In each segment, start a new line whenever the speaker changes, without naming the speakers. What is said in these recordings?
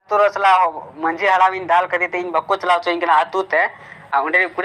ᱟᱛᱳ ᱨᱮ ᱥᱟᱞᱟᱜ ᱢᱟᱹᱡᱷᱤ ᱦᱟᱲᱟᱢ ᱤᱧ ᱫᱟᱞ ᱠᱟᱫᱮ ᱛᱮ ᱤᱧ ᱵᱟᱠᱚ ᱪᱟᱞᱟᱣ ᱦᱚᱪᱚᱧ ᱠᱟᱱᱟ ᱟᱛᱳ ᱛᱮ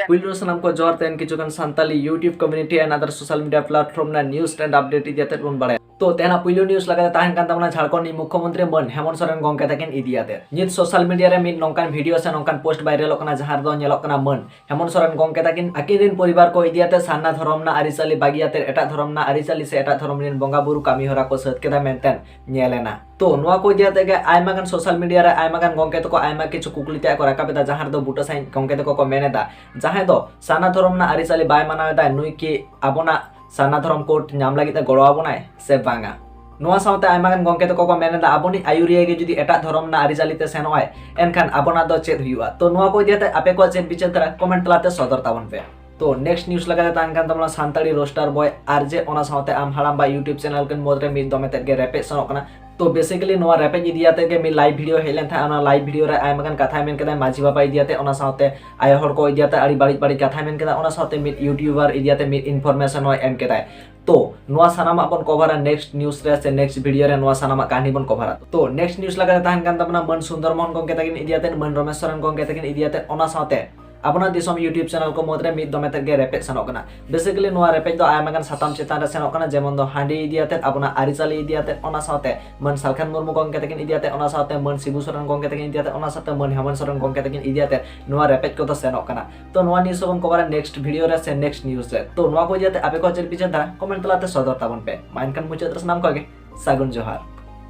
ᱯᱩᱭᱞᱩ ᱥᱟᱱᱟᱢ ᱠᱚ ᱡᱚᱦᱟᱨ ᱛᱮᱱ
ᱠᱤᱪᱷᱩ ᱜᱟᱱ Santali YouTube community and other social media platform ᱨᱮᱱᱟᱜ ᱱᱤᱭᱩᱡ ᱮᱱᱰ ᱟᱯᱰᱮᱴ ᱤᱫᱤ ᱠᱟᱛᱮ ᱵᱚᱱ ᱵᱟᱲᱟᱭᱟ ᱛᱚ ᱛᱮᱦᱮᱧᱟᱜ ᱯᱩᱭᱞᱩ ᱱᱤᱭᱩᱡ ᱞᱟᱜᱟᱛᱮ ᱛᱟᱦᱮᱱ ᱠᱟᱱ ᱛᱟᱵᱚᱱᱟ ᱡᱷᱟᱲᱠᱷᱚᱸᱰ ᱨᱤᱱᱤᱡ ᱢᱩᱠᱷᱭᱚᱢᱚᱱᱛᱨᱤ ᱢᱟᱹᱱ ᱦᱮᱢᱚᱱᱛ ᱥᱚᱨᱮᱱ ᱜᱚᱢᱠᱮ ᱛᱟᱹᱠᱤᱱ ᱤᱫᱤ ᱠᱟᱛᱮ ᱱᱤᱛ ᱥᱳᱥᱟᱞ ᱢᱤᱰᱤᱭᱟ ᱨᱮ ᱢᱤᱫ ᱱᱚᱝᱠᱟᱱ ᱵᱷᱤᱰᱤᱭᱳ ᱥᱮ ᱱᱚᱝᱠᱟᱱ ᱯᱳᱥᱴ ᱵᱷᱟᱭᱨᱟᱞᱚᱜ ᱠᱟᱱᱟ ᱡᱟᱦᱟᱸ ᱨᱮᱫᱚ ᱧᱮᱞᱚᱜ ᱠᱟᱱᱟ ᱢᱟᱹᱱ ᱦᱮᱢᱚᱱᱛ ᱥᱚᱨᱮᱱ ᱜᱚᱢᱠᱮ ᱛᱟᱹᱠᱤᱱ ᱟᱹᱠᱤᱱ ᱨᱤᱱ ᱯᱚᱨᱤᱵᱟᱨ ᱠᱚ ᱤᱫᱤ ᱠᱟᱛᱮ ᱥᱟᱨᱱᱟ ᱫᱷᱚᱨᱚᱢ ᱨᱮᱱᱟᱜ ᱟᱹᱨᱤᱪᱟᱹᱞᱤ ᱵᱟᱹᱜᱤ ᱠᱟᱛᱮ ᱮᱴᱟᱜ ᱫᱷᱚᱨᱚᱢ ᱨᱮᱱᱟᱜ ᱟᱹᱨᱤᱪᱟᱹᱞᱤ ᱥᱮ ᱮᱴᱟᱜ ᱫᱷᱚᱨᱚᱢ ᱨᱤᱱ ᱵᱚᱸᱜᱟ ᱵᱩᱨᱩ ᱠᱟᱹᱢᱤᱦᱚᱨᱟ ᱠᱚ ᱥᱟᱹᱛ ᱠᱮᱫᱟ ᱢᱮᱱᱛᱮ ᱧᱮᱞ ᱮᱱᱟ ᱛᱚ ᱱᱚᱣᱟ ᱠᱚ ᱤᱫᱤ ᱟᱛᱮ ᱜᱮ ᱟᱭᱢᱟ ᱜᱟᱱ ᱥᱳᱥᱟᱞ ᱢᱤᱰᱤᱭᱟ ᱨᱮ ᱟᱭᱢᱟ ᱜᱟᱱ ᱜᱚᱝᱠᱮ ᱛᱟᱠᱚ ᱟᱭᱢᱟ ᱠᱤᱪᱷᱩ ᱠᱩᱠᱞᱤ ᱛᱮ ᱠᱚ ᱨᱟᱠᱟᱵ ᱮᱫᱟ ᱡᱟᱦᱟᱸ ᱨᱮᱫᱚ ᱵᱩᱴᱟᱹ ᱥᱟᱺᱦᱤᱡ ᱜᱚᱝᱠᱮ ᱛᱟᱠᱚ ᱠᱚ ᱢᱮᱱ ᱮᱫᱟ ᱡᱟᱦᱟᱸᱭ ᱫᱚ ᱥᱟᱨᱱᱟ ᱫᱷᱚᱨᱚᱢ ᱨᱮᱱᱟᱜ ᱟᱹᱨᱤᱪᱟᱹᱞᱤ ᱵᱟᱭ ᱢᱟᱱᱟᱣ ᱮᱫᱟ ᱱᱩᱭ ᱠᱤ ᱟᱵᱚᱱᱟᱜ ᱥᱟᱨᱱᱟ ᱫᱷᱚᱨᱚᱢ ᱠᱳᱰ ᱧᱟᱢ ᱞᱟᱹᱜᱤᱫ ᱛᱮ ᱜᱚᱲᱚ ᱟᱵᱚᱱᱟᱭ ᱥᱮ ᱵᱟᱝᱟ ᱱᱚᱣᱟ ᱥᱟᱶᱛᱮ ᱟᱭᱢᱟ ᱜᱟᱱ ᱜᱚᱝᱠᱮ ᱛᱟᱠᱚ ᱠᱚ ᱢᱮᱱ ᱮᱫᱟ ᱟᱵᱚᱱᱤᱡ ᱟᱭᱩᱨᱤᱭᱟᱹ ᱜᱮ ᱡᱩᱫᱤ ᱮᱴᱟᱜ ᱫᱷᱚᱨᱚᱢ ᱨᱮᱱᱟᱜ ᱟᱹᱨᱤᱪᱟᱹᱞᱤ ᱛᱮ ᱥᱮᱱᱚᱜ ᱟᱭ ᱮᱱᱠᱷᱟᱱ ᱟᱵᱚᱱᱟᱜ ᱫᱚ ᱪᱮᱫ ᱦᱩᱭᱩᱜᱼᱟ ᱛᱚ ᱱᱚᱣᱟ ᱠᱚ ᱤᱫᱤ ᱟᱛᱮ ᱟᱯᱮ ᱠᱚᱣᱟᱜ ᱪᱮᱫ ᱵᱤᱪᱟᱹᱨ ᱠᱟᱱᱟ ᱠᱚᱢᱮᱱᱴ ᱛᱟᱞᱟᱛᱮ ᱥᱚᱫᱚᱨ ᱛᱟᱵᱚᱱ ᱯᱮ ᱛᱚ ᱱᱮᱠᱥᱴ ᱱᱤᱭᱩᱡ ᱞᱮᱠᱟᱛᱮ ᱛᱟᱦᱮᱱ ᱠᱟᱱ ᱛᱟᱵᱚᱱᱟ ᱥᱟᱱᱛᱟᱲᱤ ᱨᱳᱥᱴᱟᱨ ᱵᱚᱭ ᱟᱨ ᱡᱮ ᱚᱱᱟ ᱥᱟᱶᱛᱮ ᱟᱢ ᱦᱟᱲᱟᱢ ᱵᱟ ᱤᱭᱩᱴᱤᱭᱩᱵ ᱪᱮᱱᱮᱞ ᱠᱤᱱ ᱢᱩᱫᱽᱨᱮ ᱢᱤᱫ ᱫᱚᱢᱮ ᱛᱮᱫ ᱜᱮ ᱨᱮᱯᱮᱡ ᱥᱮᱱᱚᱜ ᱠᱟᱱᱟ ᱛᱚ ᱵᱮᱥᱤᱠᱟᱞᱤ ᱱᱚᱣᱟ ᱨᱮᱯᱮᱡ ᱤᱫᱤᱭᱟᱛᱮ ᱜᱮ ᱢᱤᱫ ᱞᱟᱭᱤᱵ ᱵᱷᱤᱰᱤᱭᱳ ᱦᱮᱡ ᱞᱮᱱ ᱛᱟᱦᱮᱸᱫ ᱚᱱᱟ ᱞᱟᱭᱤᱵ ᱵᱷᱤᱰᱤᱭᱳ ᱨᱮ ᱟᱭᱢᱟ ᱜᱟᱱ ᱠᱟᱛᱷᱟᱭ ᱢᱮᱱ ᱠᱮᱫᱟ ᱢᱟᱹᱡᱷᱤ ᱵᱟᱵᱟ ᱤᱫᱤᱭᱟᱛᱮ ᱚᱱᱟ ᱥᱟᱶᱛᱮ ᱟᱭᱳ ᱦᱚᱲ ᱠᱚ ᱤᱫᱤᱭᱟᱛᱮ ᱟᱹᱰᱤ ᱵᱟᱹᱲᱤᱡ ᱵᱟᱹᱲᱤᱡ ᱠᱟᱛᱷᱟᱭ ᱢᱮᱱ ᱠᱮᱫᱟ ᱚᱱᱟ ᱥᱟᱶᱛᱮ ᱢᱤᱫ ᱤᱭᱩᱴᱤᱭᱩᱵᱟᱨ ᱤᱫᱤᱭᱟᱛᱮ ᱢᱤᱫ ᱤᱱᱯᱷᱚᱨᱢᱮᱥᱚᱱ ᱦᱚᱸᱭ ᱮᱢ ᱠᱮᱫᱟᱭ ᱛᱚ ᱱᱚᱣᱟ ᱥᱟᱱᱟᱢᱟᱜ ᱵᱚᱱ ᱠᱚᱵᱷᱟᱨᱟ ᱱᱮᱠᱥᱴ ᱱᱤᱭᱩᱡ ᱨᱮ ᱥᱮ ᱱᱮᱠᱥᱴ ᱵᱷᱤᱰᱤᱭᱳ ᱨᱮ ᱱᱚᱣᱟ ᱥᱟᱱᱟᱢᱟᱜ ᱠᱟᱹᱦᱱᱤ ᱵᱚᱱ ᱠᱚᱵᱷᱟᱨᱟ ᱛᱚ ᱱᱮᱠᱥᱴ ᱱᱤᱭᱩᱡ ᱞᱮᱠᱟᱛᱮ ᱛᱟᱦᱮᱱ ᱠᱟᱱ ᱛᱟᱵᱚᱱᱟ ᱢᱟᱹᱱ ᱥᱩᱱᱫᱚᱨ ᱢᱳᱦᱚᱱ ᱜᱚᱝᱠᱮ ᱛᱟᱹᱠᱤᱱ ᱤᱫᱤᱭᱟᱛᱮ ᱢᱟᱹᱱ ᱨᱚᱢᱮᱥ ᱥᱚᱨᱮᱱ ᱜᱚᱝᱠᱮ ᱛᱟᱹᱠᱤᱱ ᱤᱫᱤᱭᱟᱛᱮ ᱚᱱᱟ ᱥᱟᱶᱛᱮ ᱟᱵᱚᱱᱟᱜ ᱫᱤᱥᱚᱢ ᱭᱩᱴᱤᱭᱩᱵ ᱪᱮᱱᱮᱞ ᱠᱚ ᱢᱩᱫᱽᱨᱮ ᱢᱤᱫ ᱫᱚᱢᱮ ᱛᱮᱫ ᱜᱮ ᱨᱮᱯᱮᱡ ᱥᱮᱱᱚᱜ ᱠᱟᱱᱟ ᱵᱮᱥᱤᱠᱟᱞᱤ ᱱᱚᱣᱟ ᱨᱮᱯᱮᱡ ᱫᱚ ᱟᱭᱢᱟ ᱜᱟᱱ ᱥᱟᱛᱟᱢ ᱪᱮᱛᱟᱱ ᱨᱮ ᱥᱮᱱᱚᱜ ᱠᱟᱱᱟ ᱡᱮᱢᱚᱱ ᱫᱚ ᱦᱟᱺᱰᱤ ᱤᱫᱤ ᱟᱛᱮᱫ ᱟᱵᱚᱱᱟᱜ ᱟᱹᱨᱤᱪᱟᱹᱞᱤ ᱤᱫᱤ ᱟᱛᱮᱫ ᱚᱱᱟ ᱥᱟᱶᱛᱮ ᱢᱟᱹᱱ ᱥᱟᱞᱠᱷᱟᱱ ᱢᱩᱨᱢᱩ ᱜᱚᱝᱠᱮ ᱛᱟᱹᱠᱤᱱ ᱤᱫᱤ ᱟᱛᱮᱫ ᱚᱱᱟ ᱥᱟᱶᱛᱮ ᱢᱟᱹᱱ ᱥᱤᱵᱩ ᱥᱚᱨᱮᱱ ᱜᱚᱝᱠᱮ ᱛᱟᱹᱠᱤᱱ ᱤᱫᱤ ᱟᱛᱮᱫ ᱚᱱᱟ ᱥᱟᱶᱛᱮ ᱢᱟᱹᱱ ᱦᱮᱢᱚᱱᱛ ᱥᱚᱨᱮᱱ ᱜᱚᱝᱠᱮ ᱛᱟᱹᱠᱤᱱ ᱤᱫᱤ ᱟᱛᱮᱫ ᱱᱚᱣᱟ ᱨᱮᱯᱮᱡ ᱠᱚᱫᱚ ᱥᱮᱱᱚᱜ ᱠᱟᱱᱟ ᱛᱚ ᱱᱚᱣᱟ ᱱᱤᱭᱩᱡ ᱦᱚᱸᱵᱚᱱ ᱠᱚᱵᱟᱨᱟ ᱱᱮᱠᱥᱴ ᱵᱷᱤᱰᱤᱭᱳ ᱨᱮ ᱥᱮ ᱱᱮᱠᱥᱴ ᱱᱤᱭᱩᱡ ᱨᱮ ᱛᱚ ᱱᱚᱣᱟ ᱠᱚ ᱤᱫᱤ ᱟᱛᱮᱫ ᱟᱯᱮ ᱠᱚ ᱪᱮᱫ ᱯᱮ ᱪᱤᱱᱛᱟᱹ ᱠᱚᱢᱮᱱᱴ ᱛᱟᱞᱟᱛᱮ ᱥᱚᱫᱚᱨ ᱛᱟᱵᱚᱱ ᱯᱮ ᱢᱟ ᱮᱱᱠᱷᱟᱱ ᱢᱩᱪᱟᱹᱫ ᱨᱮ ᱥᱟᱱᱟᱢ ᱠᱚᱜᱮ ᱥᱟᱹᱜᱩᱱ ᱡᱚᱦᱟᱨ